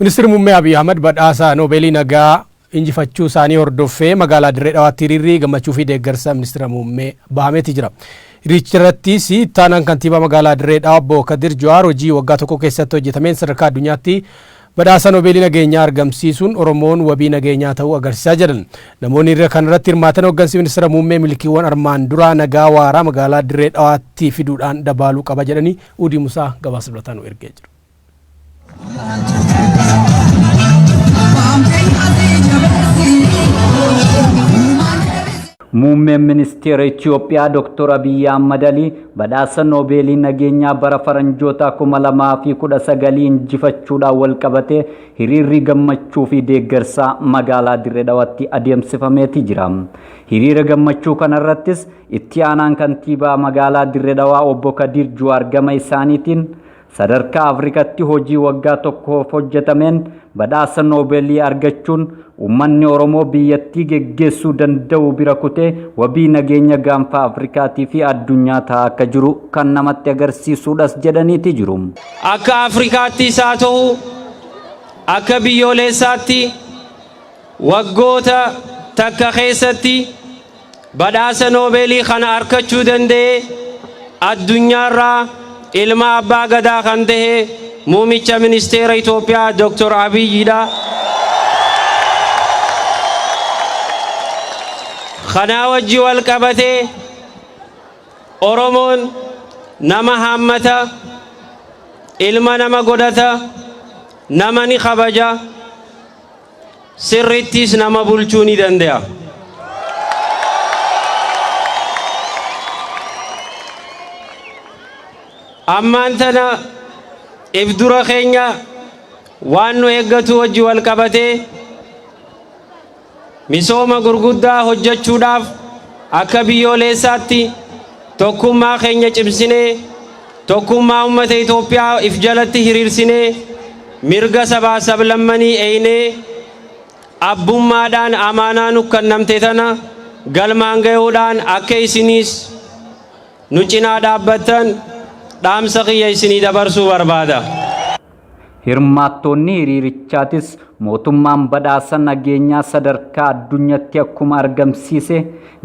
Ministirri Muummee Abiy Ahmad badhaasa Noobeelii Nagaa injifachuu isaanii hordoffee magaalaa Dirree Dhawaatti hiriirri gammachuu fi deeggarsa Ministira Muummee bahameeti jira. Hiriiricharrattis ittaanaan kantiibaa magaalaa Dirree Dhawa obbo Kadir Jawaar hojii waggaa tokko keessatti hojjetameen sadarkaa addunyaatti badhaasa Noobeelii nageenyaa argamsiisuun Oromoon wabii nageenyaa ta'uu agarsiisaa jedhan. Namoonni hiriira kanarratti hirmaatan hooggansi Ministira Muummee milkiiwwan armaan duraa nagaa waaraa magaalaa Dirree Dhawaatti fiduudhaan dabaaluu qaba jedhanii Uudii Musaa gabaasa dabalataa nu ergee jira. Muummeen Ministeera Itiyoophiyaa Dr. Abiyyi Ahmad Alii badhaasa Noobeelii nageenyaa bara faranjootaa 2019 injifachuudhaan walqabatee hiriirri gammachuu fi deeggarsaa magaalaa Dirree Dhawaatti adeemsifameeti jira. Hiriira gammachuu kanarrattis itti aanaan kantiibaa magaalaa Dirree Dhawaa obbo Kadiir Juwaar gama isaaniitiin Sadarkaa Afrikatti hojii waggaa tokkoof hojjetameen badhaasa Noobeelii argachuun uummanni Oromoo biyyattii geggeessuu danda'u bira kutee wabii nageenya gaanfa Afrikaatii fi addunyaa ta'aa akka jiru kan namatti agarsiisuudhas jedhaniiti jiru. Akka Afrikaattis haa ta'u akka biyyooleessaatti waggoota takka keessatti Badhaasa Noobeelii kana arkachuu danda'e addunyaarraa ilma Abbaa Gadaa kan ta'e Muumicha Ministeera Itoophiyaa Dooktor Abiyyi dha. Kanaa wajji wal qabatee Oromoon nama haammata, ilma nama godhata, nama ni kabaja. Sirrittiis nama bulchuu ni dande'a. Ammaan tana if dura keenya waan nu eeggatu wajji wal qabatee misooma gurguddaa hojjechuudhaaf akka biyyooleessaatti tokkummaa keenya cimsinee Tokkummaa ummata Itoophiyaa if jalatti hiriirsinee, mirga sabaa sablammanii eeynee, abbummaadhaan amaanaa nu kannamte tana galmaan gayuudhaan akka isiniis nu cinaa dhaabbattan dhaamsa kiyya isinii dabarsuu barbaada. Hirmaattoonni hiriirichaatis mootummaan badhaasa nageenyaa sadarkaa addunyatti akkuma argamsiise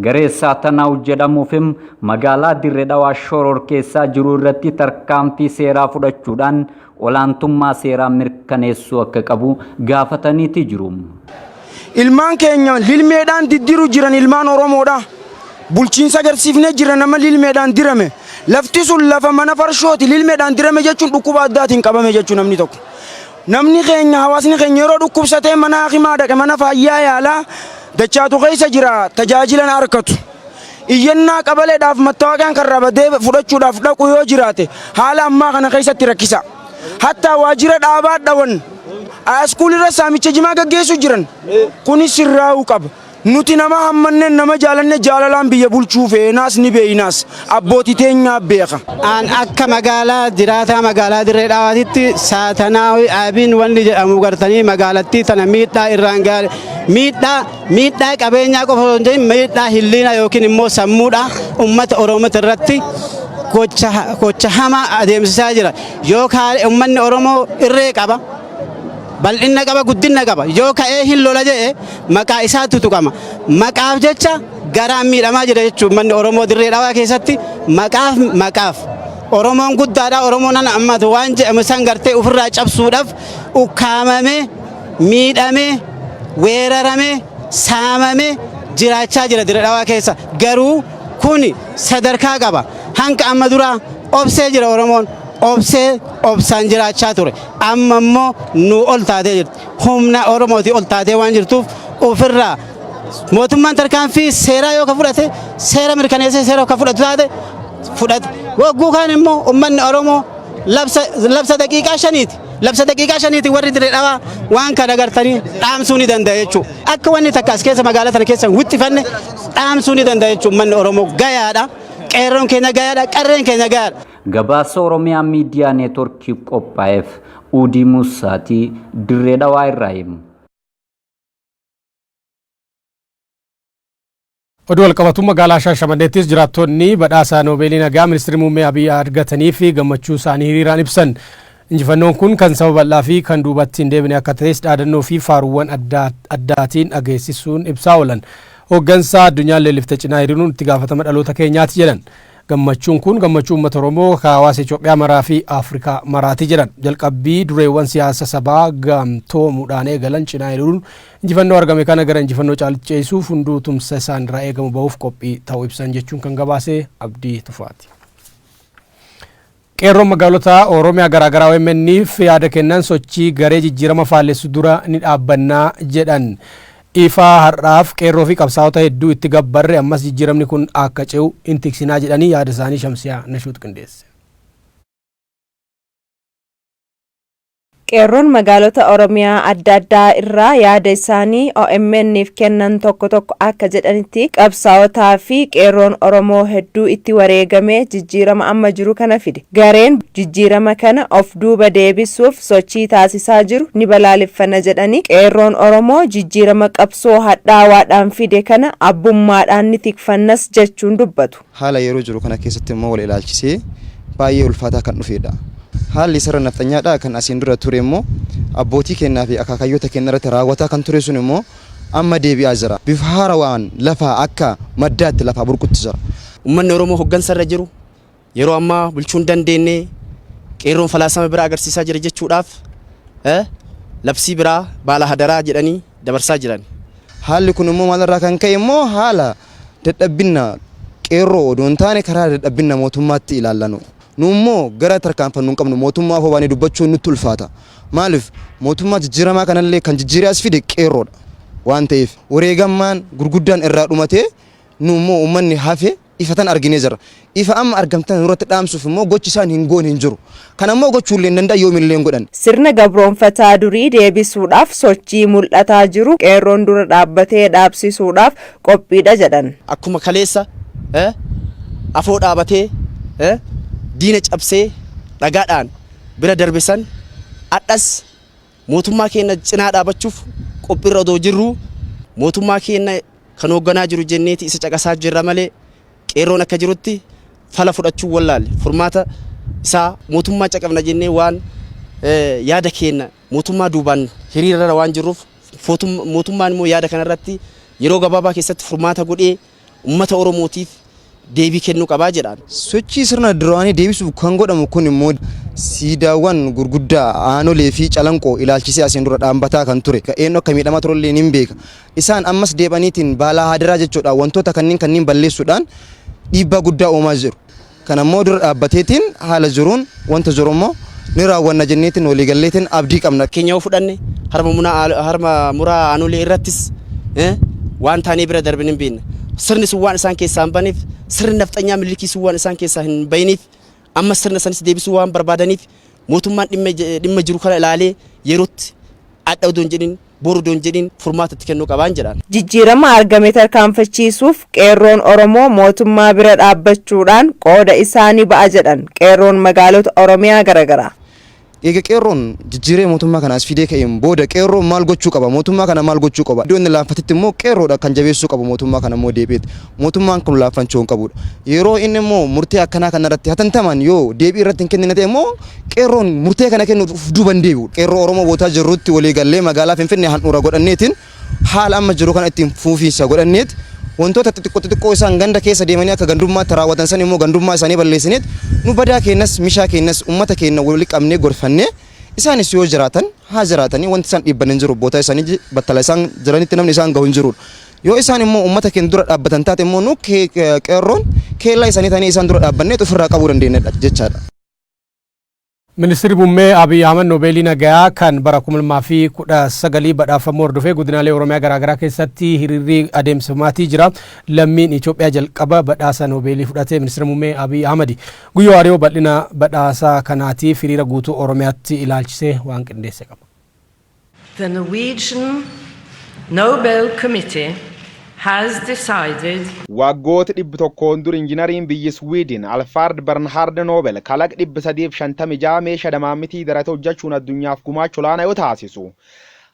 garee Saatanaw jedhamuufim magaalaa Dirre Dhawaa shororkeessaa jiru irratti tarkaanfii seeraa fudhachuudhaan olaantummaa seeraa mirkaneessuu akka qabu gaafataniiti jiru. Ilmaan keenya lilmeedhaan diddiru jiran ilmaan Oromoodha. Bulchiinsa agarsiifnee jira nama lilmeedhaan dirame. Lafti sun lafa mana farshooti lilmeedhaan dirame jechuun dhukkuba addaatiin qabame jechuu namni tokko. Namni keenya hawaasni keenya yeroo dhukkubsatee mana hakimaa dhaqe mana faayyaa yaalaa dachaatu keessa jira tajaajilan arkatu. Iyyannaa qabaleedhaaf mattawaaqaan kan rabadee fudhachuudhaaf dhaqu yoo jiraate haala ammaa kana keessatti rakkisa. Hattaa waajjira dhaabaa dhawan Aaskuulirra saamicha jimaa gaggeessu jiran. Kuni sirraa'uu qaba. Nuti nama hammanneen nama jaalanne jaalalaan biyya bulchuu feenaas ni beeynaas. Abbooti teenyaa beeka. An akka magaalaa jiraataa magaalaa Dirree Dhawaatitti Saatanaawi Abiin wanni jedhamu gartanii magaalattii tana miidhaa irraan gaale miidhaa Miidhaa qabeenyaa qofa osoo hin ta'in miidhaa hilliina yookiin immoo sammuudha uummata Oromoo irratti gocha gocha hamaa adeemsisaa jira. Yoo kaa'e uummanni Oromoo irree qaba. bal'inna qaba guddinna qaba yoo ka'ee hin lola jedhe maqaa isaatu tuqama maqaaf jecha garaan miidhamaa jira jechuun manni oromoo dirree dhawaa keessatti maqaaf maqaaf oromoon guddaadha oromoon ana ammatu waan jedhamu san gartee ofirraa cabsuudhaaf ukkaamamee miidhamee, weeraramee, saamamee jiraachaa jira Dire Dhawaa keessa. Garuu kuni sadarkaa qaba. Hanga amma duraa obsee jira Oromoon. Obsee obsaan jiraachaa ture. Amma immoo nuu ol taatee jirti. Humna Oromootii ol taatee waan jirtuuf ofirraa mootummaan tarkaanfii seeraa yoo ka fudhate seera mirkaneessee seera ka fudhatu taate fudhate. Wagguu kaan immoo ummanni Oromoo labsa labsa daqiiqaa shaniiti. Labsa daqiiqaa shaniitiin warri Dirree Dhawaa waan kana agartanii dhaamsuu ni danda'a jechuudha. Akka wanni takka as keessa magaalaa sana keessa hin wixxifanne dhaamsuu ni danda'a jechuudha. Uummanni Oromoo gayaadha. Qeerroon keenya gayaadha. Qarreen keenya gayaadha. Gabaasa Oromiyaa Miidiyaa Neetworkiif qophaa'eef Uudii Muussaatii Dirree Dhawaa irraa himu. Oduu walqabatu magaalaa Shaashamanneettis jiraattoonni badhaasa Noobeelii Nagaa Ministirri Muummee Abiy argataniif gammachuu isaanii hiriiraan ibsan. Injifannoon kun kan saba bal'aa fi kan duubatti hin deebine akka ta'es dhaadannoo fi faaruuwwan adda addaatiin dhageessisuun ibsaa oolan. Hooggansa addunyaan leellifte cinaa hiriiruun itti gaafatama dhaloota keenyaati jedhan. Gammachuun kun gammachuu uummata Oromoo ka hawaasa Itoophiyaa maraa fi Afrikaa maraati jedhan. Jalqabbii dureewwan siyaasa sabaa gamtoomuudhaan eegalan cinaa hiriiruun Injifannoo argame kana gara injifannoo caalutti ceesisuuf hunduu tumsa isaan irraa eegamu bahuuf qophii ta'uu ibsan jechuun kan gabaase Abdii Tufaati. Qeerroon magaalota Oromiyaa garaagaraa OMN'f yaada kennan sochii garee jijjiirama faallessu dura ni dhaabbannaa jedhan. Ifaa har'aaf qeerroo fi qabsaa'ota hedduu itti gabbarre ammas jijjiiramni kun akka ce'u hin tiksinaa jedhanii yaada isaanii Shamsiyaa Nashuut qindeesse. Qeerroon magaalota Oromiyaa adda addaa irraa yaada isaanii OMN'f kennan tokko tokko akka jedhanitti qabsaa'otaa fi qeerroon Oromoo hedduu itti wareegamee jijjiirama amma jiru kana fide. Gareen jijjiirama kana of duuba deebisuuf sochii taasisaa jiru ni balaaleffanna jedhanii, qeerroon Oromoo jijjiirama qabsoo hadhaawaadhaan fide kana abbummaadhaan ni tikfannas jechuun dubbatu. Haala yeroo jiru kana keessatti immoo wal ilaalchisee baay'ee ulfaataa kan dhufeedha. Haalli sarara nafxanyaadhaa kan asiin dura ture immoo abbootii keennaa fi akaakayyoota keenna irratti raawwataa kan ture sun immoo amma deebi'aa jira. Bifa haarawaan lafaa akka maddaatti lafaa burqutti jira. Ummanni Oromoo hoggansa irra jiru yeroo ammaa bulchuu hin dandeenne, Qeerroon falaasama biraa agarsiisaa jira jechuudhaaf labsii biraa baala hadaraa jedhanii, dabarsaa jiran. Haalli kun immoo maalirraa kan ka'e immoo haala dadhabbinna qeerroo odoo hin taane karaa dadhabbinna mootummaatti ilaalla nu. Nu immoo gara tarkaanfannu hin qabnu mootummaa ofoo baanee dubbachuun nutti ulfaata. Maaliif mootummaa jijjiiramaa kanallee kan jijjiiree as fide qeerroodha waan ta'eef wareegammaan gurguddaan irraa dhumatee nu immoo uummanni hafe ifatan arginee jirra. Ifa amma argame tana nurratti dhaamsuuf immoo gochi isaan hin goone hin jiru. Kana immoo gochuu illee hin danda'an yoomillee hin godhan. Sirna gabroomfataa durii deebisuudhaaf sochii mul'ataa jiru Qeerroon dura dhaabbatee dhaabsisuudhaaf qophiidha jedhan. Akkuma kaleessa afoo dhaabatee diina cabsee dhagaadhaan bira darbe san har'as Mootummaa keenna cinaa dhaabachuuf qophiirra odoo jirruu, mootummaa keenna kan hoogganaa jiru jenneeti isa caqasaa jirra malee, Qeerroon akka jirutti fala fudhachuu wallaalle. Furmaata isaa mootummaa caqafna jennee waan yaada keenna mootummaa duubaan hiriirarra waan jirruuf, mootummaan immoo yaada kanarratti yeroo gabaabaa keessatti furmaata godhee, ummata Oromootiif deebii kennuu qaba jedhan. Sochii sirna duraanii deebisuuf kan godhamu kun immoo siidaawwan gurguddaa Aanolee fi Calanqoo ilaalchisee asiin dura dhaambataa kan ture, eenyu akka miidhamaa ture illee nin beeka. Isaan ammas deeb'aniitiin baalaa haadaraa jechuudhaan wantoota kanniin kanniin balleessuudhaan dhiibbaa guddaa uumaa jiru. Kana immoo dura dhaabbateetiin haala jiruun wanta jiru immoo ni raawwanna jenneetiin walii galleetiin abdii qabna. keenya yoo fudhanne harma munaa aal- harma muraa aanolee irrattis eh, waan taanee bira darbine hin beekne. Sirni sun waan isaan keessaa hin baneef, sirni nafxanyaa millikii sun waan isaan keessaa hin bayiniif, amma sirna sanis deebisuu waan barbaadaniif mootummaan dhimma, dhimma jiru kana ilaalee yerootti adda odoo hin jedhin boru don jedhin furmaata itti kennuu qabaan jedhan. Jijjiirama argame tarkaanfachiisuuf Qeerroon Oromoo mootummaa bira dhaabbachuudhaan qooda isaa ni ba'a jedhan Qeerroon Magaalota Oromiyaa garagaraa. Eega Qeerroon jijjiiree mootummaa kana as fidee ka'een booda Qeerroon maal gochuu qaba? Mootummaa kana maal gochuu qaba? Iddoo inni laanfatetti immoo Qeerroodha kan jabeessuu qabu mootummaa kana immoo deebi'eet. Mootummaan kun laaffanchoo hin qabuudha. Yeroo inni immoo murtee akkanaa kana irratti hatantamaan yoo deebii irratti hin kennine ta'e immoo qeerroon murtee kana kennuuf of duuba hin deebi'u. Qeerroo Oromoo bootaa jirrutti walii gallee magaalaa Finfinnee handhuura godhanneetiin haala amma jiru kana ittiin fuufiinsa godhanneet wantoota xixiqqoo xixiqqoo isaan ganda keessa deemanii akka gandummaatti raawwatan san immoo gandummaa isaanii balleessineet nu badaa keenyas mishaa keenyas uummata keenya wali qabnee gorfannee isaanis yoo jiraatan haa jiraatanii wanti isaan dhiibban hin jiru bootaa isaanii battala isaan jiranitti namni isaan gahu hin jiruudha. Yoo isaan immoo uummata keenya dura dhaabbatan taate immoo nu qeerroon keellaa isaanii taanee isaan dura dhaabbanneet ofirraa qabuu dandeenyedha jechaadha. Ministirri Muummee Abiy Ahmad Noobeelii Nagayaa kan bara 2019 badhaafamuu hordofee godinaalee Oromiyaa garaagaraa keessatti hiriirri adeemsifamaatii jira. Lammiin Itoophiyaa jalqaba badhaasa Noobeelii fudhate Ministira Muummee Abiy Ahmadi. Guyyoo Ariyoo bal'ina badhaasa kanaatiif hiriira guutuu Oromiyaatti ilaalchisee waan qindeesse qaba. The Norwegian Nobel Committee has decided. Waaggooti dhibbi tokkoon dur injinariin biyyi Sweden Alfard Bernhard Nobel kalaq dhibbi sadii fi shantamii ja'a meesha damaammitii darate hojjachuun addunyaaf gumaacha olaana yoo taasisu,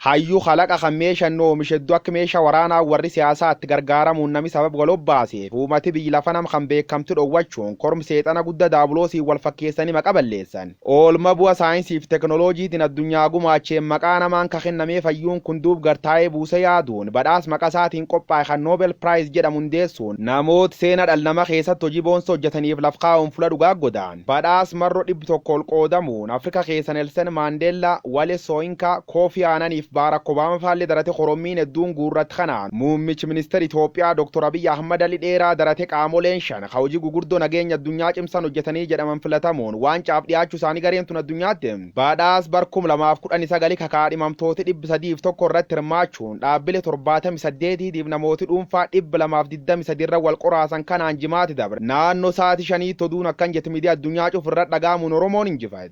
hayyu kalaqa kan meesha inni oomishe heddu akk meesha waraanaa warri siyaasaa itti gargaaramuun nami sabab wal obbaaseef uumati biyyi lafa nam kan beekamti dhowwachuun korm seexana gudda daabuloosiin wal fakkeessani maqa balleessan. Oolma bu'a saayinsii fi teknoloojiitin addunyaa gumaacheen maqaa namaan ka kennamee fayyuun kun duub gar taa'ee buuse yaaduun badhaas maqa isaatiin qophaa'e kan Nobel Prize jedhamu hundeessuun namoot seena dhal nama keessatt hojii boonsa hojjataniif laf kaa'uun fula dhugaa godaan badhaas marro dhibbi tokko ol qoodamuun Afrika keessa Nelsen Mandella, Wale Soyinka, Kofi Annan fi Barack Obama faalle darate korommiin hedduun guurratt kanaan muummich minister Itoophiyaa Dr Abiy Ahmad ali dheeraa darate qaamoleen 5. ka hojii gugurdoo nageenya addunyaa cimsan hojjatanii jedhaman filatamuun waancaaf dhiyaachu isaanii gareen tun addunyaatti badhaas bar 2019 ka kaadhimamtooti 301 irratti hirmaachuun dhaabbile 78 tiitiif namooti dhuunfaa 223 irra wal qoraasan kanaan jimaati dabre naanno saati shaniitti oduun akkan jett midiya addunyaa cuf irra dhagaamuun oromoon injifat.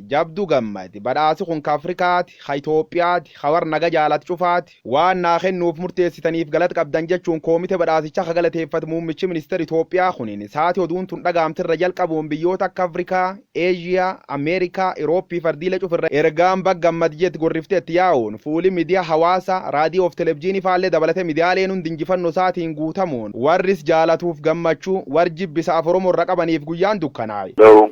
Jabdu Gammad, Badhaasi kun ka Afrikaati, ka Itoophiyaati, ka warra naga jaalatu cufaati. Waan naa kennuuf murteessitaniif galata qabdan jechuun koomite badhaasichaa ka galateeffate muummichi ministeera Itoophiyaa kunin, saati oduun tun dhagahamte irra jalqabuun biyyoota akka Afrikaa, Eeshiyaa, Ameerikaa, Irooppii fi ardiilee cufa irra ergaan baga gammad jette gorrifte itti yaa'uun, fuuli midiyaa hawaasaa, raadiyoo fi televjiinii faallee dabalatee midiyaaleen hundi injifannoo isaatiin guutamuun, warri is jaalatuuf gammachuu, warri jibbi isa Af-Oromoo irra qabaniif guyyaan dukkanaa'e. Though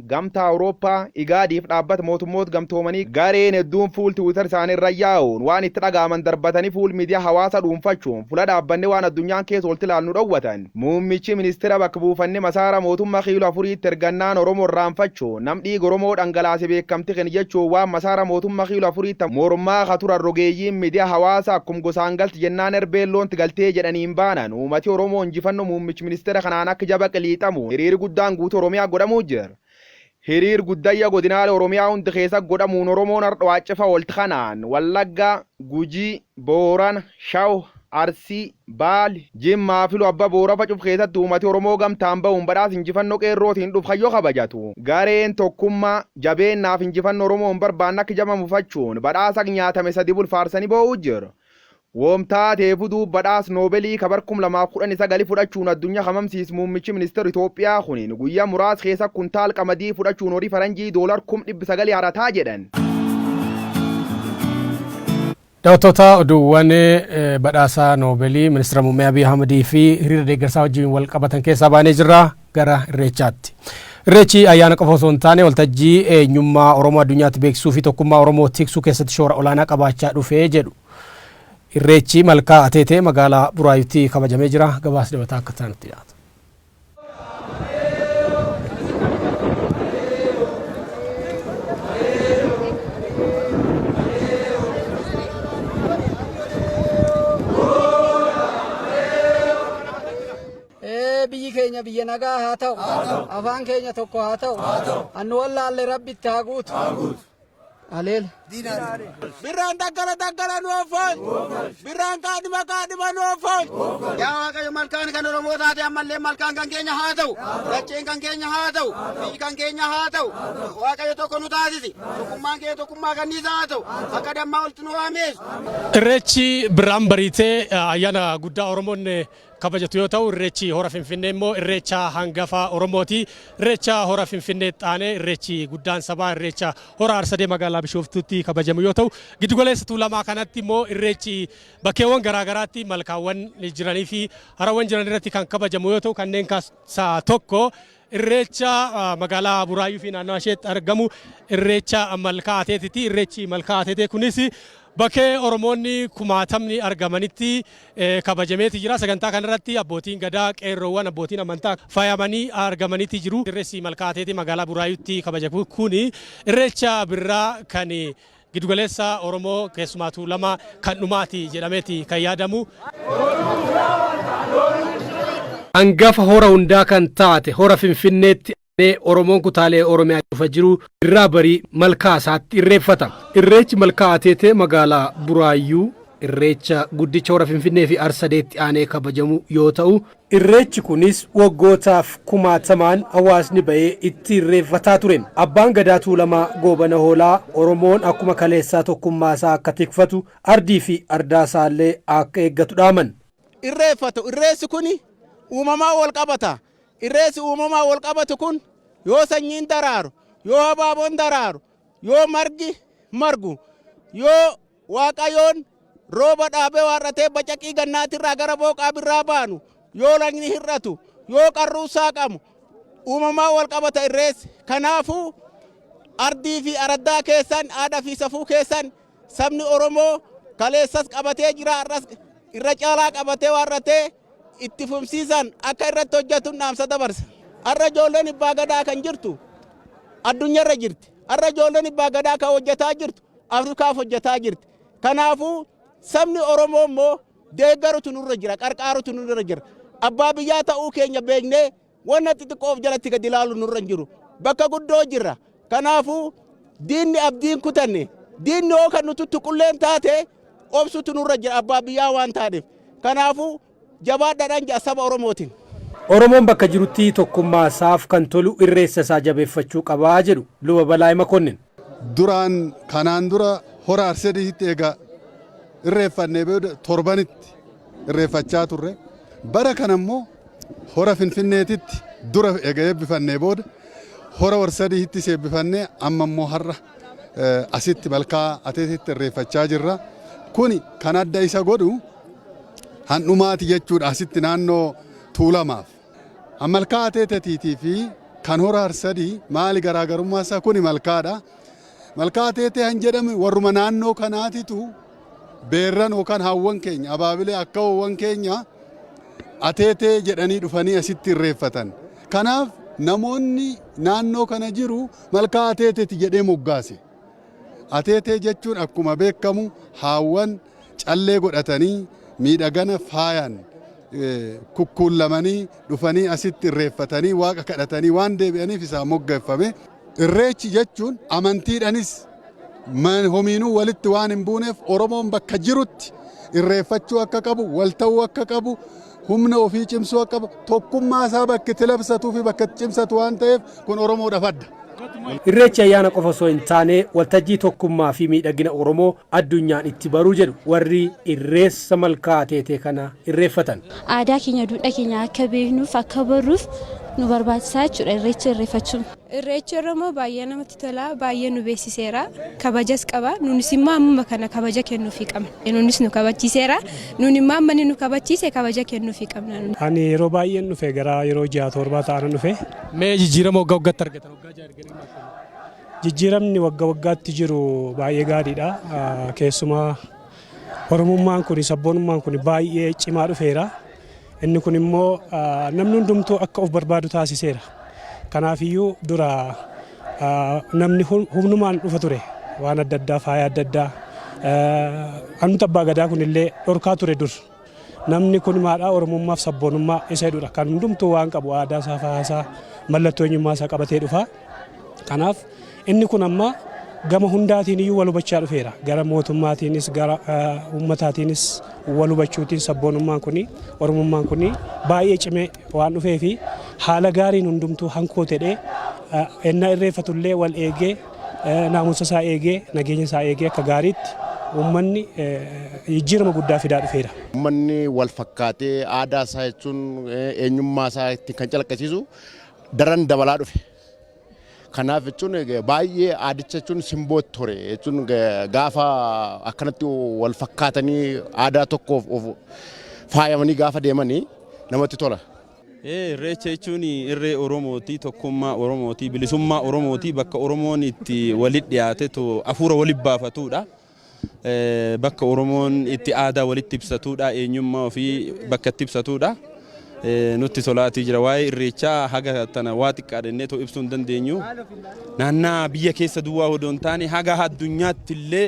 Gamtaa Awurooppaa, Igaadiif Dhaabbata Mootummoot Gamtoomanii gareen hedduun fuul Twitter isaanii irra yaa'uun waan itti dhaga'aman darbatanii fuul miidiyaa hawaasaa dhuunfachuun fula dhaabbannee waan addunyaan keessa ooltu ilaallu dhowwatan. Muummichi Ministeera bakka buufannee masaara mootumma kiilo afuriitti ergannaan Oromoo irraanfachuun nam dhiiga Oromoo dhangalaase beekamti keni jechuun waan masaara mootumma kiilo afuriitti mormaa ka turan rogeeyyiin miidiyaa hawaasaa akkum gosaan galti jennaan erbeen loonti galtee jedhaniin baanan uumati Oromoo injifanno muummichi ministeera kanaan akka jaba qiliixamu hiriiri guddaan guutuu Oromiyaa godhamuu jir. Hiriir guddayya godinaale Oromiyaa hundi keessa godhamuun Oromoon hardha waaccefa oolti kanaan Wallagga, Gujii, Boorana, Shaw, Arsii, Baal, Jimmaa fi Ilu Abba Boorafa cuf keessatti uumati Oromoo gamtaan bahuun badhaas injifanno qeerrootiin dhuf kan yo kabajatu gareen tokkumma, jabeenna fi injifanno Oromoon barbaanne akka jaba mufachuun badhaas ak nyaatame sadi bul faarsani boo'uu jir. Wom taateefu duub badhaas Nobelii ka bar 2019 fudhachuun addunya ka mamsiis muummichi minister Itoophiyaa kuniin guyya muraas keesa kuntaal qamadii fudhachuun horii faranjii dollar kum 900 harataa jedhan. Dawattoota oduuwwan badhaasa Nobelii ministira muummee Abiy Ahmad fi hiriira deeggarsaa wajjiin wal qabatan keessaa baanee jirra gara irreechaatti. Irreechi ayyaana qofa osoo hin taane waltajjii eenyummaa Oromoo addunyaatti beeksisuu fi tokkummaa Oromoo tiksuu keessatti shoora olaanaa qabaachaa dhufee jedhu Irreechi Malkaa Ateetee magaalaa Buraayuutti kabajamee jira. Gabaas dabataa akka taanutti dhiyaata. biyyi keenya biyya nagaa haa ta'u afaan keenya tokko haa ta'u annu wallaalle rabbitti haa guutu Aleel. Birraan daggala daggala nu offoon. Birraan kaadhima kaadhima nu offoon. Yaa Waaqayyo malkaan kan Oromoo taate ammallee malkaan kan keenya haa ta'u. Dacheen kan keenya haa ta'u. Biyyi kan keenya haa ta'u. Waaqayyo tokko nu taasisi. Tokkummaan kee tokkummaa kanniisa haa ta'u. Akka dammaa walitti nu waameessu. Irreechi birraan bariitee ayyaana guddaa Oromoon kabajatu yoo ta'u irreechi hora finfinnee immoo irreecha hangafa oromooti irreecha hora finfinnee xaanee irreechi guddaan sabaa irreecha hora arsadee magaalaa bishooftuutti kabajamu yoo ta'u giddugaleessa tuulamaa kanatti immoo irreechi bakkeewwan garaagaraatti malkaawwan jiranii fi harawwan jiran irratti kan kabajamu yoo ta'u kanneen keessaa tokko Irreecha magaalaa Buraayyuu fi naannawaa isheetti argamu irreecha malkaa ateetiti. Irreechi malkaa ateetee kunis bakkee Oromoonni kumaatamni argamanitti kabajameeti jira. Sagantaa kanarratti abbootiin gadaa, qeerroowwan, abbootiin amantaa faayamanii argamaniiti jiru. Irreessi malkaa ateetee magaalaa Buraayyuutti kabajamu kun irreecha birraa kan Gidugaleessa Oromoo keessumaatuu lama kan dhumaati jedhameeti kan yaadamu. Angafa hora hundaa kan taate hora Finfinneetti aanee Oromoon kutaalee Oromiyaa cufa jiru irraa barii malkaa isaatti irreeffata. Irreechi malkaa Ateetee magaalaa Buraayyuu irreecha guddicha hora Finfinneefi Arsadeetti aanee kabajamu yoo ta'u, Irreechi kunis waggootaaf kumaatamaan hawaasni ba'ee itti irreeffataa ture. Abbaan Gadaa Tuulamaa Goobana Hoolaa Oromoon akkuma kaleessaa tokkummaasaa akka tikfatu, ardiifi ardaasaallee akka eeggatu dhaaman. irreeffatu. Irreessi kuni uumamaan walqabata. Irreessi uumamaan walqabatu kun yoo sanyiin daraaru, yoo habaaboon daraaru, yoo margi margu, yoo. Waaqayoon rooba dhaabee waar'atee bacaqii gannaatirraa gara booqaa birraa baanu, yoo lagni hir'atu, yoo qarruun saaqamu uumamaan wal qabata irreessi. Kanaafuu ardii fi araddaa keessan, aadaa fi safuu keessan sabni Oromoo kaleessas qabatee jira, har'as irra caalaa qabatee waar'atee itti fufsiisaan akka irratti hojjatun dhaamsa dabarsa. Har'a ijoolleen Ibbaa Gadaa kan jirtu addunyarra jirti. Har'a ijoolleen Ibbaa Gadaa kan hojjataa jirtu Afrikaaf hojjataa jirti. Kanaafuu sabni Oromoo immoo deeggarutu nurra jira, qarqaarutu nurra jira. Abbaa biyyaa ta'uu keenya beeknee Wanna xixiqqoo of jalatti gad ilaaluun nurra hin jiru. Bakka guddoo jirra. Kanaafuu diinni abdii hin kutanne. Diinni hoo kan nu tuttuqulleen taate obsutu nurra jira abbaa biyyaa waan taaneef. Kanaafuu jabaadhaadhaan ja'a saba Oromootiin. Oromoon bakka jirutti tokkummaasaaf kan tolu irreessasaa jabeeffachuu qaba jedhu Luba Balaay Makonnin. Duraan kanaan dura hora Arsadiitti eega irreeffannee booda torbanitti irreeffachaa turre. Bara kana immoo hora Finfinneetitti dura eega eebbifannee booda hora Arsadiittis eebbifannee amma immoo har'a asitti malkaa Ateeteetti irreeffachaa jirra. Kuni kan adda isa godhu handhumaati jechuudha asitti naannoo Tuulamaaf. An malkaa Ateetetiitii fi kan hora Harsadii maali garaagarummaa isaa? Kuni malkaadha. Malkaa Ateetee han jedhame warruma naannoo kanaatitu beerran yookaan haawwan keenya, abaabilee akkaawwan keenya Ateetee jedhanii dhufanii asitti irreeffatan. Kanaaf namoonni naannoo kana jiru malkaa Ateeteti jedhee moggaase. Ateetee jechuun akkuma beekkamu haawwan callee godhatanii miidhagana faayaan kukkuullamanii dhufanii asitti irreeffatanii waaqa kadhatanii waan deebi'aniif isaan moggeeffame. Irreechi jechuun amantiidhanis homiinuu walitti waan hin buuneef Oromoon bakka jirutti irreeffachuu akka qabu, wal ta'uu akka qabu, humna ofii cimsuu akka qabu, tokkummaa isaa bakka itti labsatuu fi bakka itti cimsatu waan ta'eef kun Oromoodhaaf adda. Irreechi ayyaana qofa osoo hin taane waltajjii tokkummaa fi miidhagina Oromoo addunyaan itti baru jedhu warri Irreessa Malkaa Ateetee kana irreeffatan. Aadaa keenya, duudhaa keenya akka beeknuuf, akka barruuf nu barbaachisa jechuudha Irreecha irreeffachuun. Irreechi Oromoo baay'ee namatti tola, baay'ee nu beeksiseera, kabajas qaba. Nuunis immoo ammuma kana kabaja kennuufii qabna. Nuunis nu kabachiiseera. Nuun immoo amma inni nu kabachiise kabaja kennuufii qabna. Ani yeroo baay'een dhufe gara yeroo ji'a torbaa ta'an dhufe. Mee jijjiirama waggaa waggaatti argatan waggaa ja'a erganii maal kennu? Jijjiiramni wagga waggaatti jiru baay'ee gaariidha. Keessumaa Oromummaan kuni, sabboonummaan kuni baay'ee cimaa dhufeera. Inni kun immoo namni hundumtuu akka of barbaadu taasiseera. Kanaafiyyuu dura namni humnumaan dhufa ture. Waan adda addaa, faaya adda addaa. Anumti abbaa gadaa kunillee dhorkaa ture dur. Namni kun maadhaa Oromummaaf sabboonummaa isa jedhudha. Kan hundumtuu waan qabu aadaa isaa, faaya isaa, mallattoo eenyummaa isaa qabatee dhufa. Kanaaf inni kun amma gama hundaatiin iyyuu wal hubachaa dhufeera. Gara mootummaatiinis gara uummataatiinis wal hubachuutiin sabboonummaan kun Oromummaan kun baay'ee cimee waan dhufee fi haala gaariin hundumtuu hankoo tedhee ennaa irreeffatullee wal eegee naamusa isaa eegee, nageenya isaa eegee akka gaariitti uummanni jijjiirama guddaa fidaa dhufeera. Uummanni wal fakkaatee aadaa isaa jechuun eenyummaa isaa ittiin kan calaqqisiisu daran dabalaa dhufe. Kanaaf jechuun baay'ee aadicha jechuun simboo ture jechuun gaafa akkanatti wal fakkaatanii aadaa tokkoof faayamanii gaafa deemanii namatti tola. Irreecha jechuun irree Oromooti, tokkummaa Oromooti, bilisummaa Oromooti, bakka Oromoon itti walitti dhiyaatetu hafuura walitti baafatudha. Bakka Oromoon itti aadaa walitti ibsatudha, eenyummaa ofii bakka itti ibsatudha. Nutti tolaatii jira. Waa'ee irreechaa haga tana waa xiqqaa jennee too ibsuu hin dandeenyu. Naannaa biyya keessa duwwaa odoo hin taane haga addunyaatti illee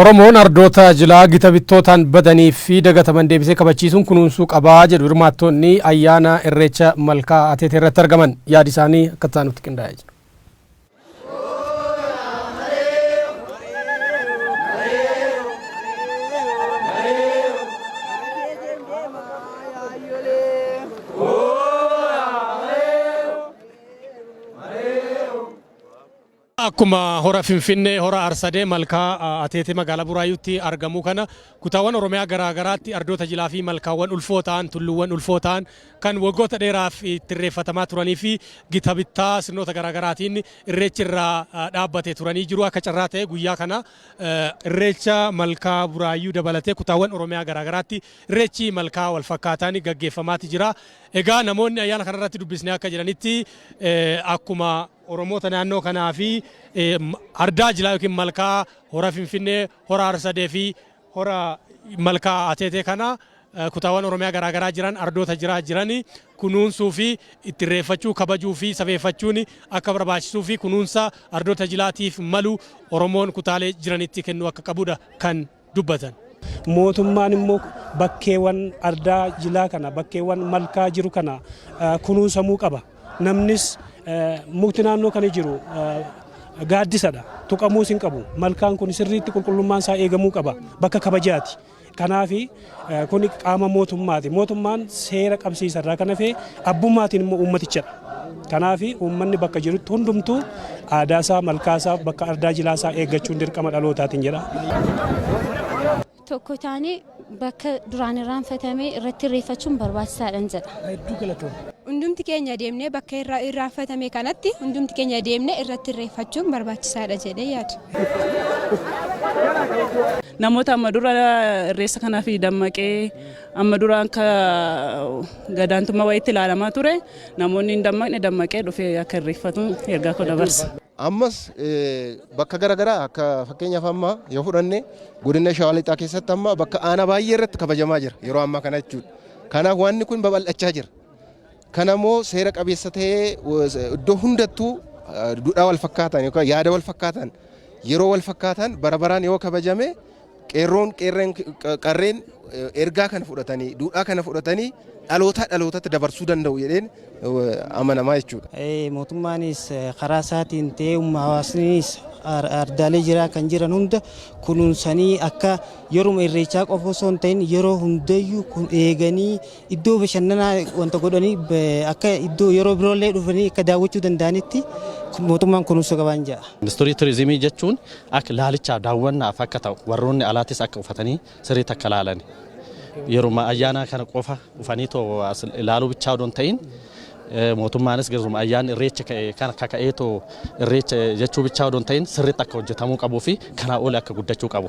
Oromoon ardoota jilaa gita bittootaan badanii fi dagataman deebisee kabachiisuun kunuunsuu qaba jedhu hirmaattoonni ayyaana Irreecha Malkaa Ateetee irratti argaman. Yaadi isaanii akka itti aanutti qindaa'ee jira. Akkuma hora Finfinnee, hora Arsadee, malkaa Ateetee magaalaa Buraayyuutti argamu kana kutaawwan Oromiyaa garaa garaatti ardoota jilaa fi malkaawwan ulfoo ta'an, tulluuwwan ulfoo ta'an kan waggoota dheeraaf itti irreeffatamaa turanii fi gita bittaa sirnoota garaa garaatiin irreechi irraa dhaabbate turanii jiru. Akka carraa ta'ee guyyaa kana irreecha malkaa Buraayyuu dabalatee kutaawwan Oromiyaa garaa garaatti irreechi malkaa wal fakkaataan gaggeeffamaati jira. Egaa namoonni ayyaana kana irratti dubbisne akka jedhanitti akkuma Oromoota naannoo kanaa fi ardaa jilaa yookiin malkaa hora Finfinnee, hora Harsadee fi hora malkaa Ateetee kana kutaawwan Oromiyaa garaa garaa jiran ardoota jiraa jirani kunuunsuu fi itti irreeffachuu, kabajuu fi safeeffachuun akka barbaachisuu fi kunuunsa ardoota jilaatiif malu Oromoon kutaalee jiranitti kennuu akka qabu dha kan dubbatan. Mootummaan immoo bakkeewwan ardaa jilaa kana bakkeewwan malkaa jiru kana kunuunsamuu qaba. Namnis mukti naannoo kana jiru gaaddisadha. Tuqamuus hin qabu. Malkaan kun sirriitti qulqullummaan isaa eegamuu qaba. Bakka kabajaati. Kanaafi Kuni qaama mootummaati. Mootummaan seera qabsiisa irraa kan hafe abbummaatiin immoo uummatichadha. Kanaaf uummanni bakka jirutti hundumtuu aadaa isaa, malkaa isaa, bakka ardaa jilaa isaa eeggachuun dirqama dhalootaatiin jedha. Tokko taanee bakka duraan irraanfatame irratti irreeffachuun barbaachisaadhan jedha. Hundumti keenya deemnee bakka irraanfatame kanatti hundumti keenya deemnee irratti irreeffachuun barbaachisaadha jedhee yaada. Namoota amma dura irreessa kanaaf dammaqee amma dura akka gadaantummaa wayiitti ilaalamaa ture namoonni hin dammaqne dammaqee dhufee akka irreeffatu ergaa koo dabarsa. Ammas bakka garaagaraa akka fakkeenyaaf amma yoo fudhanne godina Shawaa Lixaa keessatti amma bakka aanaa baay'ee irratti kabajamaa jira yeroo ammaa kana jechuudha. Kanaaf wanni kun babal'achaa jira. Kana immoo seera qabeessa ta'ee iddoo hundattuu duudhaa wal fakkaataan yookaan yaada wal fakkaataan yeroo wal fakkaataan bara baraan yoo kabajame qeerroon qeerreen qarreen ergaa kana fudhatanii duudhaa kana fudhatanii dhalootaa dhalootatti dabarsuu danda'u jedheen amanamaa jechuudha. Mootummaanis karaa isaatiin ta'ee humna hawaasnis ardaalee jiraa kan jiran hunda kunuunsanii akka yeruma irreechaa qofa osoo hin ta'in yeroo hundayyuu kun eeganii Iddoo bashannanaa wanta godhanii akka iddoo yeroo biroollee dhufanii akka daawwachuu danda'anitti mootummaan kunuunsa qabaan ja'a. Industirii turizimii jechuun akka laalichaaf daawwannaaf akka ta'u warroonni alaatis akka ufatanii sirriitti akka laalani. Yeruma ayyaanaa kana qofa dhufanii too as ilaaluu bichaa odoo hin ta'in mootummaanis garuma ayyaan irreecha ka'e kana kaka'ee too irreecha jechuu bichaa odoo hin ta'in sirriitti akka hojjetamuu qabuu fi kanaa oli akka guddachuu qabu.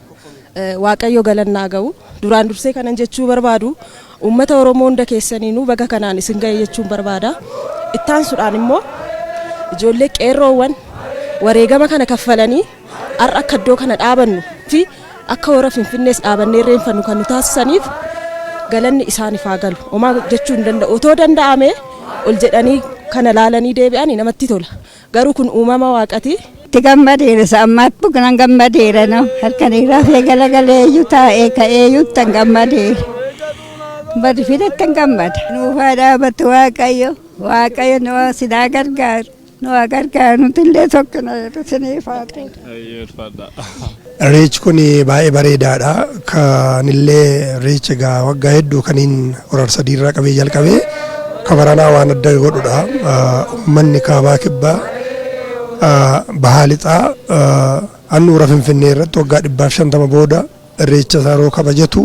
Waaqayyo galanni haa ga'u. Duraan dursee kanan jechuu barbaadu uummata Oromoo hunda keessaniinuu baga kanaan isin ga'e jechuun barbaada. Itti aansuudhaan immoo ijoollee qeerroowwan wareegama kana kaffalanii har'a akka iddoo kana dhaabannu fi akka hora Finfinnees dhaabannee irreenfannu kan nu taasisaniif galanni isaaniif haa galu. Homaa jechuu hin danda'u. Otoo danda'amee ol jedhanii kana laalanii deebi'anii namatti tola. Garuu kun uumama waaqati. Itti gammadeera isa ammaatti nan gammadeera no halkan irraafee galagaleeyyu taa'ee ka'eeyyutti an gammadeera. Bari fidatti an gammada. Nuufaa dhaabatu waaqayyo waaqayyo nu sinaa gargaaru nu gargaaru nuti illee tokko na jedhu siniif haa ta'u. Eeyyee ulfaadha. Irreechi kun baay'ee bareedaadha. Kanillee irreecha egaa waggaa hedduu kaniin horar sadii irraa qabee jalqabee ka baranaa waan adda godhudha. Uummanni kaabaa kibbaa bahaa lixaa handhuura Finfinnee irratti waggaa dhibbaaf shantama booda irreecha isaa yeroo kabajatu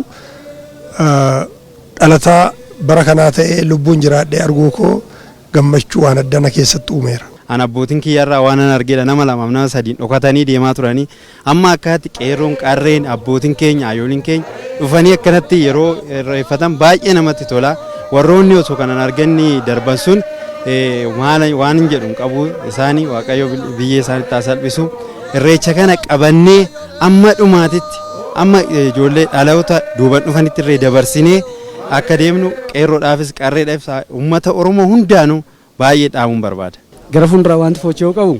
dhalataa bara kanaa ta'ee lubbuun jiraadhee arguu koo gammachuu waan addaa na keessatti uumeera. An abbootiin kiyya irraa waanan argedha nama lamaaf nama sadiin dhokatanii deemaa turanii amma akkaatti qeerroon qarreen abbootiin keenya hayooliin keenya dhufanii akkanatti yeroo irreeffatan baay'ee namatti tola warroonni osoo kanan arganni darban sun eh, maala- waan hin jedhu hin qabu isaanii waaqayyo bil- biyyee isaanitti haa salphisu irreecha kana qabannee amma dhumaatitti amma eh, ijoollee dhaloota duuban dhufanitti irree dabarsinee akka deemnu qeerroodhaafis qarreedhaafis uummata Oromoo hundaanuu baay'ee dhaamuun barbaada. Gara fuulduraa waanti foocha'uu qabu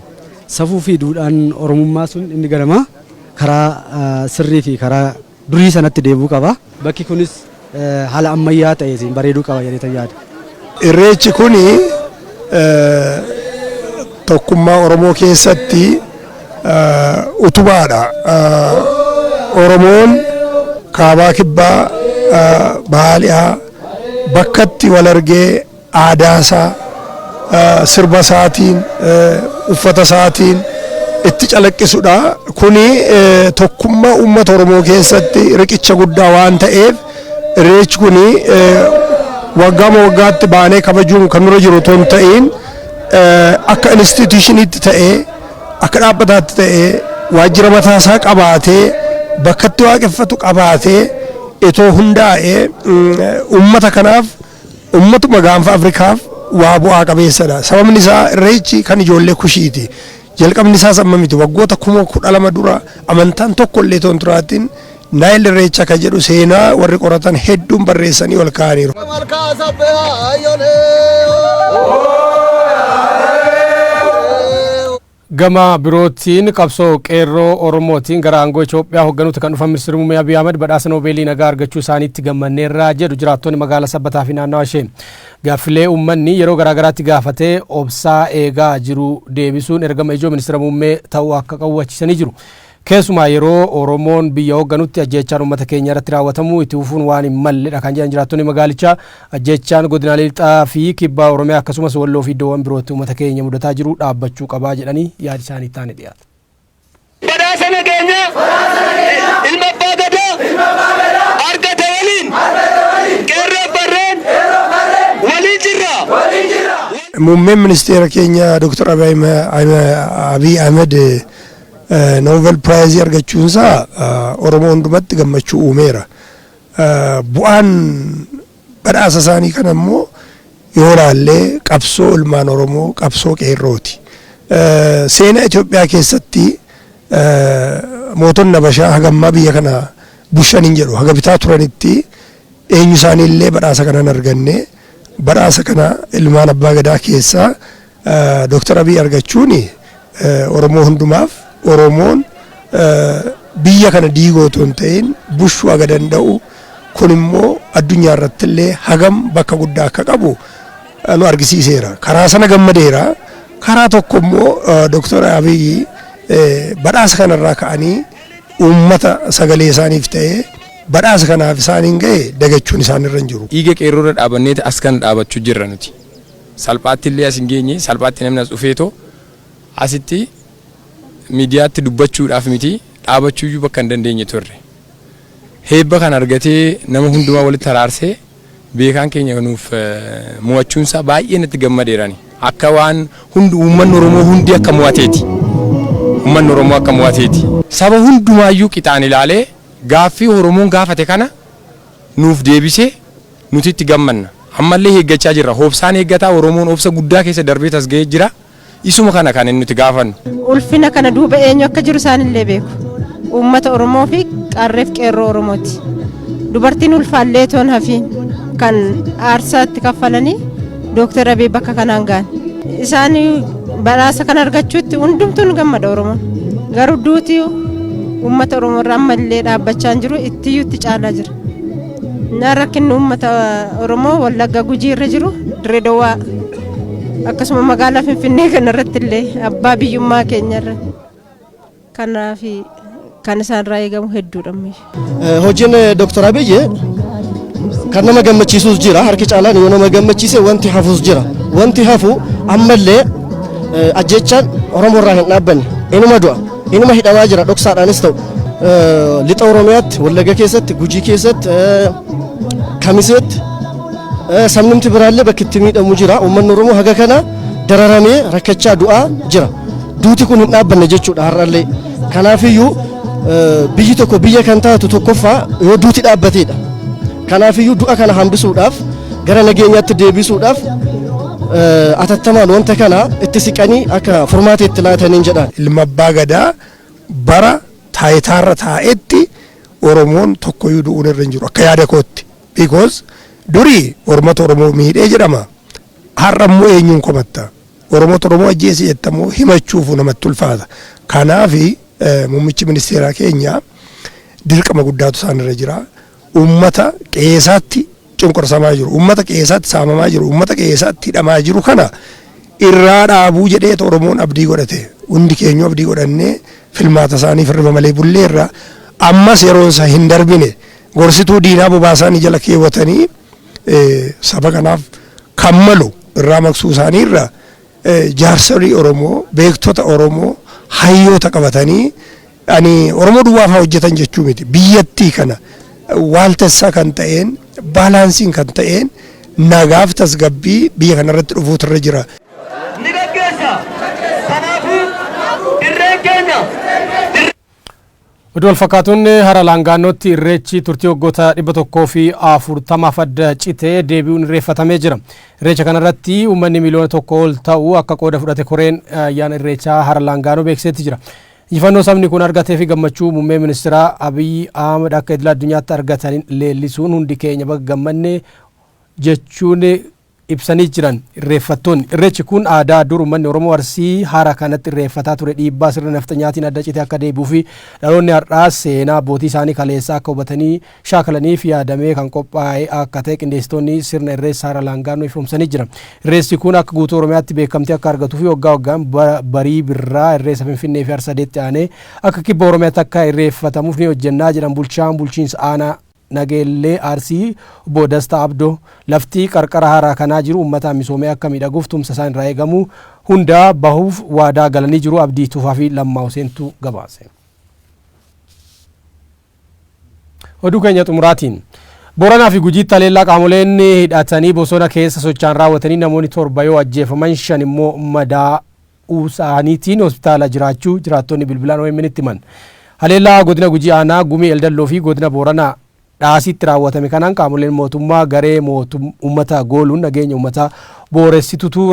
safuu fi duudhaan Oromummaa sun inni ganamaa karaa sirrii fi karaa durii sanatti deebi'uu qaba. Bakki kunis haala ammayyaa ta'eetiin bareeduu qaba jedheetan yaada. Irreechi kun tokkummaa Oromoo keessatti utubaadha. Oromoon kaabaa kibbaa bahaa dhihaa bakkatti wal argee aadaasaa sirba isaatiin uffata isaatiin itti calaqqisudha. Kuni tokkummaa uummata Oromoo keessatti riqicha guddaa waan ta'eef Irreechi kun waggaama waggaatti baanee kabajuun kan nurra jiru otoo hin ta'iin akka instituutiishiniitti ta'ee akka dhaabbataatti ta'ee waajjira mataasaa qabaatee bakkatti waaqeffatu qabaatee itoo hundaa'ee uummata kanaaf uummatuma gaanfa Afrikaaf waa bu'aa qabeessadha. Sababni isaa irreechi kan ijoollee kushiiti. Jalqabni isaas amma miti. Waggoota kuma kudha lama dura amantaan tokko illee otoo hin turaatiin Naayil Irreecha kan jedhu seenaa warri qoratan hedduun barreessanii ol kaa'aniiru. Malkaa sabbee haayyolee. Gama birootiin qabsoo qeerroo Oromootiin gara aangoo Itoophiyaa hoogganuutti kan dhufan ministeerri muummee Abiy Ahmed badhaasa Noobeelii nagaa argachuu isaaniitti gammanneerra jedhu jiraattonni magaalaa Sabbataa fi naannawa ishee. Gaaffilee uummanni yeroo garaagaraatti gaafatee obsaa eegaa jiru deebisuun ergama ijoo Ministira Muummee ta'uu akka qabu hubachiisanii jiru. Keessumaa yeroo Oromoon biyya hoogganutti ajjeechaan uummata keenya irratti raawwatamu itti fufuun waan hin malledha kan jedhan jiraattonni magaalichaa, ajjeechaan godinaalee Lixaa fi Kibba Oromiyaa akkasumas Walloo fi iddoowwan birootti uummata keenya mudataa jiru dhaabbachuu qaba jedhanii yaadi isaanii itti aanee dhiyaata. Badhaasa nageenyaa ilma abbaa gadaa argate waliin qeerroof farreen waliin jirra. Muummeen ministeera keenya Dr. Abiy Ahmed Novel Piraayizii argachuunsaa Oromoo hundumatti gammachuu uumeera. Bu'aan Badhaasa isaanii kana immoo yoo ilaalle qabsoo ilmaan Oromoo qabsoo qeerrooti. Seenaa Itoophiyaa keessatti mootonni Habashaa haga ammaa biyya kana bushan hin jedhu haga bitaa turanitti eenyu isaanii illee badhaasa kana hin arganne. Badhaasa kana ilmaan abbaa gadaa keessaa Dooktar Abiy argachuun Oromoo hundumaaf Oromoon biyya kana diiguu otoo hin ta'in bushuu haga danda'u kun immoo addunyaa irratti illee hagam bakka guddaa akka qabu nu argisiiseera. Karaa sana gammadeera. Karaa tokko immoo Dooktar Abiy badhaasa kanarraa ka'anii uummata sagalee isaaniif ta'ee badhaasa kanaaf isaaniin ga'e dagachuun isaanirra hin jiru. Dhiiga qeerroorra dhaabanneeti as kana dhaabachuu jirra nuti. Salphaatti illee as hin geenye. Salphaatti namni as dhufeetoo asitti miidiyaatti dubbachuudhaaf miti dhaabachuu iyyuu bakka hin dandeenye turre. Heebba kana argatee nama hundumaa walitti araarsee beekaan keenya nuuf mo'achuun isaa baay'ee natti gammadeera ani. Akka waan hundi uummanni Oromoo hundi akka mo'ateeti. Uummanni Oromoo akka mo'ateeti. Saba hundumaa iyyuu qixaan ilaalee gaaffii Oromoon gaafate kana nuuf deebise nuti itti gammanna. Ammallee eeggachaa jirra. Hobsaan eeggataa Oromoon obsa guddaa keessa darbee tasga'ee jira. Isuma kana kan nuti gaafannu. Ulfina kana duuba eenyu akka jiru isaanillee beeku. Uummata Oromoo fi Qarreef Qeerroo Oromooti. Dubartiin ulfaallee toon hafiin kan aarsaa itti kaffalanii Dooktar Abiy bakka kanaan ga'an. Isaan badhaasa kan argachuutti hundumtuu ni gammada Oromoon. Garuu duuti uummata Oromoo irra ammallee dhaabbachaa hin jiru ittiyyuu itti caalaa jira. Na rakkinni uummata Oromoo Wallagga Gujii irra jiru Dirree Dawaa akkasuma magaalaa Finfinnee kanarratti illee abbaa biyyummaa keenya irra Kanaaf kan isaanirraa eegamu hedduudha. Hojiin Dooktar Abiyyi kan nama gammachiisus jira. Harki caalaan yoo nama gammachiise wanti hafus jira. Wanti hafu ammallee ajjechaan Oromoo irraa hin dhaabbanne. Inuma du'a. Inuma hidhamaa jira dhoksaadhaanis ta'u. Lixa Oromiyaatti, Wallagga keessatti, Gujii keessatti, Kamiseetti sabnumti biraallee bakki itti miidhamu jira. Uummanni Oromoo haga kana dararamee rakkachaa du'aa jira. Duuti kun hin dhaabbanne jechuudha har'allee. Kanaafiyyuu biyyi tokko biyya kan taatu tokkoffaa yoo duuti dhaabbateedha. Kanaafiyyuu du'a kana hambisuudhaaf gara nageenyaatti deebisuudhaaf atattamaan wanta kana itti siqanii akka furmaata itti laataniin jedhaan. Ilma abbaa gadaa bara taayitaarra taa'etti Oromoon tokkoyyuu du'uun irra hin jiru akka yaada kootti. Because durii ormata Oromoo miidhee jedhama. Har'a immoo eenyuun komatta? Oromootu Oromoo ajjeese jetta moo himachuufu namatti ulfaata. Kanaaf muummichi ministeeraa keenya dirqama guddaatu isaan irra jira. Uummata qe'eesaatti cunqursamaa jiru, uummata qe'eesaatti saamamaa jiru, uummata qe'eesaatti hidhamaa jiru kana irraa dhaabuu jedheetu Oromoon abdii godhate. Hundi keenyu abdii godhannee filmaata isaanii firrima malee bulleerra. Ammas yeroon isaa hin darbine gorsituu diinaa bobaasaanii jala keewwatanii saba kanaaf kan malu irraa maqsuu isaanii irra jaarsolii Oromoo, beektota Oromoo, hayyoota qabatanii ani Oromoo duwwaa fa'aa hojjetan jechuu miti. Biyyattii kana waaltessaa kan ta'een, baalaansiin kan ta'een nagaaf tasgabbii biyya kanarratti dhufuutu irra jira. ni gaggeessa. Kanaafuu dirreen keenya dirree. Oduu walfakkaatuun hara Laangaannootti irreechi turtii waggoota 140f adda cite deebi'uun irreeffatamee jira. Irreecha kanarratti uummanni miliyoona tokko ol ta'u akka qooda fudhate koreen ayyaana irreechaa hara Laangaanoo beeksisetti jira. Injifannoo sabni kun argatee fi gammachuu muummee ministeeraa Abiyyi Ahmad akka idila addunyaatti argatan leellisuun hundi keenya baga gammanne jechuun ibsanii jiran irreeffattoonni. Irreechi kun aadaa dur ummanni Oromoo Arsii hara kanatti irreeffataa ture dhiibbaa sirna nafxanyaatiin adda citee akka deebi'uufi dhaloonni har'aas seenaa abbootii isaanii kaleessaa akka hubatanii shaakalaniif yaadamee kan qophaa'e akka ta'e qindeessitoonni sirna irreessa hara laangaannoo ifoomsanii jiran. Irreessi kun akka guutuu Oromiyaatti beekamtii akka argatuufi waggaa waggaan bara barii birraa irreessa Finfinneefi Harsadeetti aanee akka kibba Oromiyaatti akka irreeffatamuuf ni hojjennaa jedhan bulchaan bulchiinsa aanaa Nageellee Arsii Obbo Dastaa Abdoo, Lafti qarqara haaraa kanaa jiru ummataan misoomee akka miidhaguuf tumsa isaan irraa eegamu hunda bahuuf waadaa galanii jiru Abdii Tufaa fi Lammaa Huseentu gabaase. Oduu keenya xumuraatiin. Booranaa fi Gujiitti haleellaa qaamoleen hidhatanii bosona keessa socho'an raawwataniin namoonni torba yoo ajjeefaman shan immoo madaa uu saaniitiin hospitaala jiraachuu jiraattonni bilbilaan omn tti himan. Haleellaa godina Gujii aanaa Gumii Eldalloo fi godina Boorana Dhaasiitti raawwatame kanaan qaamoleen mootummaa garee ummata gooluun nageenya ummataa booressitutu